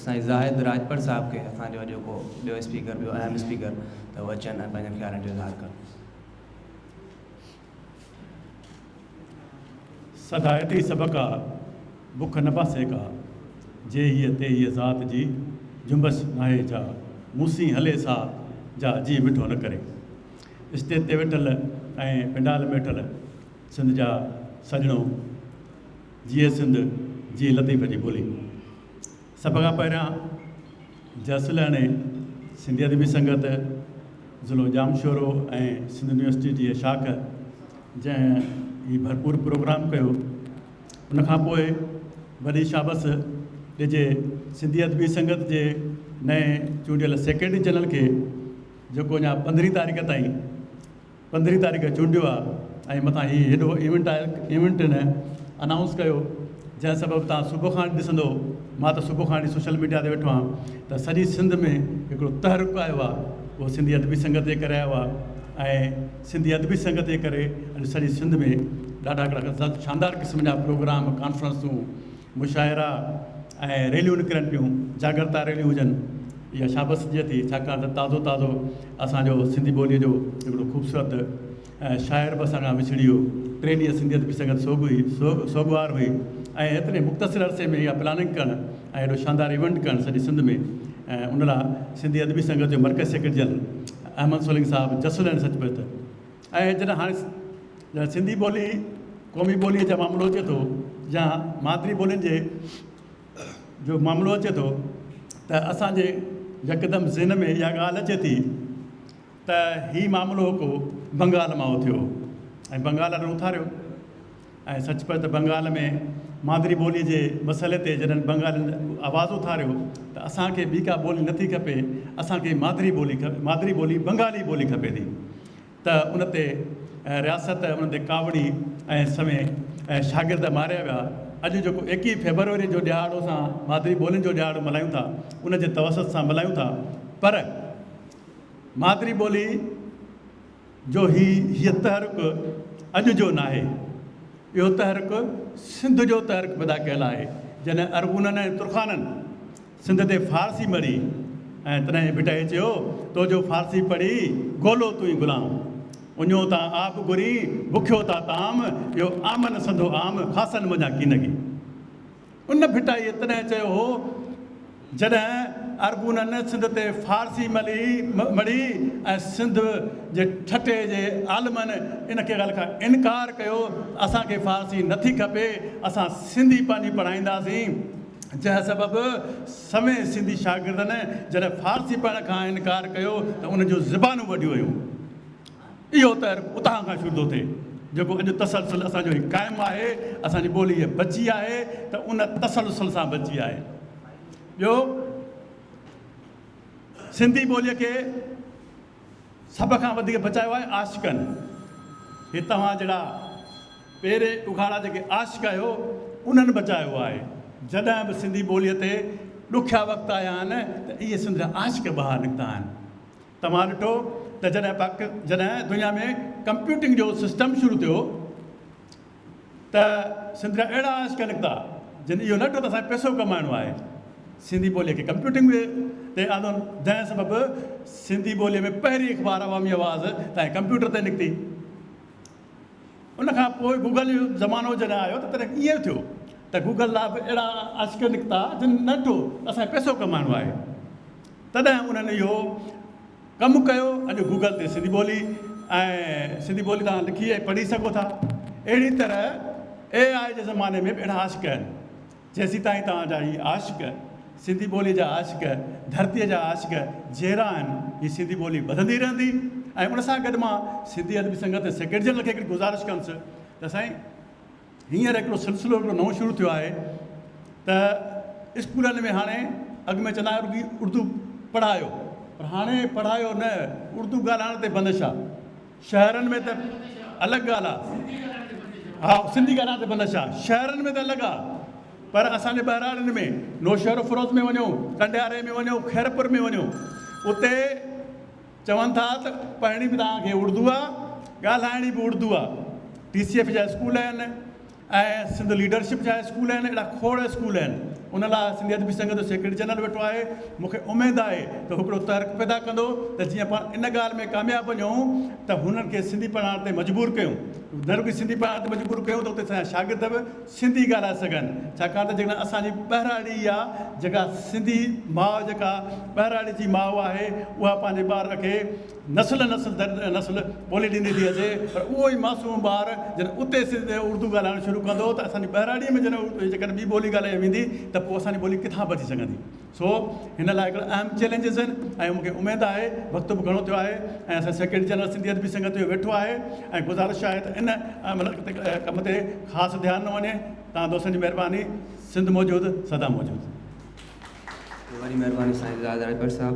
سائين زاهد راڄپر صاحب کي اسان جو اڄوڪو ٻيو اسپيڪر ٻيو اهم اسپيڪر ته هو اچن ۽ پنهنجن خيالن جو اظهار ڪن. سگهائتي سڀ ڪا، بک نه پاسي ڪا، جي هيء تي هيء ذات جي، جنبش ناهي جا، مون سين هلي سا، جا جي مٺو نه ڪري. اسٽيج تي ويٺل ۽ پنڊال ۾ ويٺل سنڌ جا سڄڻو، جيئي سنڌ، جيئي لطيف جي ٻولي. سڀ کان پهريان جس لهڻي، سنڌي ادبي سنگت، ضلعو ڄامشورو ۽ سنڌ يونيورسٽي جي شاخ جنهن هي ڀرپور پروگرام ڪيو ان کان پوء وڏي شابس ڏجي سنڌي ادبي سنگت جي نئين چونڊيل سيڪريٽري جنرل کي جيڪو اڃا پندرهين تاريخ تائين پندرهين تاريخ چونڊيو آ ۽ متان هي هيڏو ايونٽ آ ايونٽ نه انائونس ڪيو جنهن سبب تان صبح کان وٺي ڏسندو مان ته صبح کان وٺي سوشل ميڊيا تي ويٺو آهيان ته سڄي سنڌ ۾ هڪڙو تحرڪ آيو آ اهو سنڌي ادبي سنگت جي ڪري آيو آ ۽ سنڌي ادبي سنگت جي ڪري اڄ سڄي سنڌ ۾ ڏاڍا هڪڙا شاندار قسم جا پروگرام ڪانفرنسون مشاعرا ۽ ريليون نڪرن پيون، جاڳرتا ريليون هجن، اها شابس ڏجي ٿي، ڇاڪاڻ ته تازو تازو اسان جو سنڌي ٻوليء جو هڪڙو خوبصورت شاعر به اسان کان وڇڙي ويو، ٽيلهيء سنڌيت به سنگت سوڳ هئي، سوڳوار هئي ۽ ايتري مختصر عرصي ۾ اها پلاننگ ڪرڻ ۽ ايڏو شاندار ايونٽ ڪرڻ سڄي سنڌ ۾ ان لاء سنڌي ادبي سنگت جو مرڪز سيڪريٽري جنرل احمد سولنگي صاحب جسل ۽ سچ پچ ۽ جڏهن هاڻي جڏهن سنڌي ٻولي قومي ٻوليء جو معاملو اچي ٿو يا مادري ٻولين جي جو معاملو اچي ٿو ته اسانجي يڪدم ذهن ۾ اها ڳالهه اچي ٿي ته هي معاملو ڪو بنگال مان اٿيو ۽ بنگال اٿاريو ۽ سچ پچ ته بنگال ۾ مادري ٻولي جي مسئلي تي جڏھن بنگالين آواز اٿاريو ته اسان کي ٻي ڪا ٻولي نٿي کپي اسان کي مادري ٻولي مادري ٻولي بنگالي ٻولي کپي ٿي ته ان تي رياست ان تي ڪاوڙي ۽ سوين شاگرد ماريا ويا اڄ جيڪو ايڪيھه فيبروري جو ڏھاڙو اسان مادري ٻولين جو ڏھاڙو ملھايون ٿا ان جي توسط سان ملھايون ٿا پر مادري ٻولي جو هي هيء تحرڪ اڄ جو ناهي. اهو تحرڪ سنڌ جو تحرڪ پيدا ڪيل آهي. جڏهن ارغونن ۽ ترخانن سنڌ تي فارسي مڙهي ۽ تڏهن ڀٽائي چيو، تو جو فارسي پڙهي گولو تون ئي غلام. اڃو تا آب گرين، بکيو تا طعام، اهو آمن سنڌو عام، خاصن منجهان ڪين گي. ان ڀٽائيء تڏهن چيو هو، جڏهن ارغونن سنڌ تي فارسي ملي مڙهي ۽ سنڌ جي ٺٽي جي عالمن ان ڪيغل کان انڪار ڪيو ته اسان کي فارسي نه ٿي کپي، اسان سنڌي پنهنجي پڙهائينداسين، جنهن سبب سوين سنڌي شاگردن جڏهن فارسي پڙهڻ کان انڪار ڪيو ته انهن جون زبانون وڍيون ويون. اهو تر اتان کان شروع ٿو ٿئي، جيڪو اڄ تسلسل اسان جو هي قائم آهي، اسان جي ٻولي هيء بچي آهي ته ان تسلسل سان بچي آهي. ٻيو سنڌي ٻوليء کي سڀ کان وڌيڪ بچايو آهي عاشقن. هي توهان جهڙا پيري اگهاڙا جيڪي عاشق آهيو، انهن بچايو آهي. جڏهن به سنڌي ٻوليء تي ڏکيا وقت آيا آهن ته اهي سنڌ جا عاشق ٻاهر نڪتا آهن. توهان ڏٺو ته جڏهن پاڪ جڏهن دنيا ۾ ڪمپيوٽنگ جو سسٽم شروع ٿيو ته سنڌ جا اهڙا عاشق نڪتا جن اهو نه ڏٺو ته اسان کي پئسو ڪمائڻو آهي سنڌي ٻولي کي ڪمپيوٽنگ ۾ تي آندو جنهن سبب سنڌي ٻولي ۾ پهرين اخبار عوامي آواز تائين ڪمپيوٽر تي نڪتي. ان کان پوء گوگل جو زمانو جڏهن آيو ته تڏهن ائين ٿيو ته گوگل لاء به اهڙا عاشق نڪتا جن نه ڏٺو ته اسان کي پئسو ڪمائڻو آهي تڏهن انهن اهو ڪم ڪيو اڄ گوگل تي سنڌي ٻولي ۽ سنڌي ٻولي تان لکي ۽ پڙهي سگهو ٿا اهڙي طرح اي آء جي زماني ۾ به اهڙا عاشق آهن جيسيتائين توهان جا هي عاشق، سنڌي ٻوليء جا عاشق، ڌرتيء جا عاشق جيئرا آهن، هي سنڌي ٻولي وڌندي رهندي ۽ ان سان گڏ مان سنڌي ادبي سنگت جي سيڪريٽري جنرل کي هڪڙي گذارش ڪندس ته سائين هينئر هڪڙو سلسلو هڪڙو نئون شروع ٿيو آهي ته اسڪولن ۾ هاڻي اڳ ۾ چوندا هئا اردو پڙهايو پر هاڻي پڙهايو نه اردو ڳالهائڻ تي بندش آهي. شهرن ۾ ته الڳ ڳالهه آ. ها سنڌي ڳالهائڻ تي بندش آ. شهرن ۾ ته الڳ آ پر اسان جي ٻهراڙين ۾ نوشهروفروز ۾ وڃو، ڪنڊياري ۾ وڃو، خيرپور ۾ وڃو اتي چون ٿا ته پڙهڻي به توهان کي اڙدو آ، ڳالهائڻي به اڙدو آ. ٽي سي ايف جا اسڪول آهن. ۽ سنڌ ليڊرشپ جا اسڪول آهن اهڙا کوڙ اسڪول آهن ان لاء سنڌي ادبي سنگت جو سيڪريٽري جنرل ويٺو آهي مون کي اميد آهي ته هو هڪڙو تحرڪ پيدا ڪندو ته جيئن پاڻ ان ڳالهه ۾ ڪامياب وڃون ته هنن کي سنڌي پڙهائڻ تي مجبور ڪيون نه رڳي سنڌي پڙهائڻ تي مجبور ڪيون ته اتي اسان جا شاگرد به سنڌي ڳالهائي سگهن ڇاڪاڻ ته جيڪڏهن اسان جي ٻهراڙي اها جيڪا سنڌي ماء جيڪا ٻهراڙي جي ماء آهي اها پنهنجي ٻار کي نسل نسل در نسل ٻولي ڏيندي ٿي اچي پر اهو ئي معصوم ٻار جڏهن اتي سنڌ ۾ اردو ڳالهائڻ شروع ڪندو ته اسان جي ٻهراڙيء ۾ جڏهن جيڪڏهن ٻي ٻولي ڳالهائي ويندي ته پوء اسان جي ٻولي ڪٿان بچي سگهندي سو هن لاء هڪڙا اهم چئلينجز آهن ۽ مون کي اميد آهي وقت به گهڻو ٿيو آهي ۽ اسان سيڪريٽري جنرل سنڌي ادبي سنگت جو ويٺو آهي ۽ گذارش آهي ته ان مطلب تي ڪم تي خاص ڌيان ڏنو وڃي توهان دوستن جي مهرباني سنڌ موجود سدا موجود. وڏي مهرباني سائين زاد راڄپر صاحب.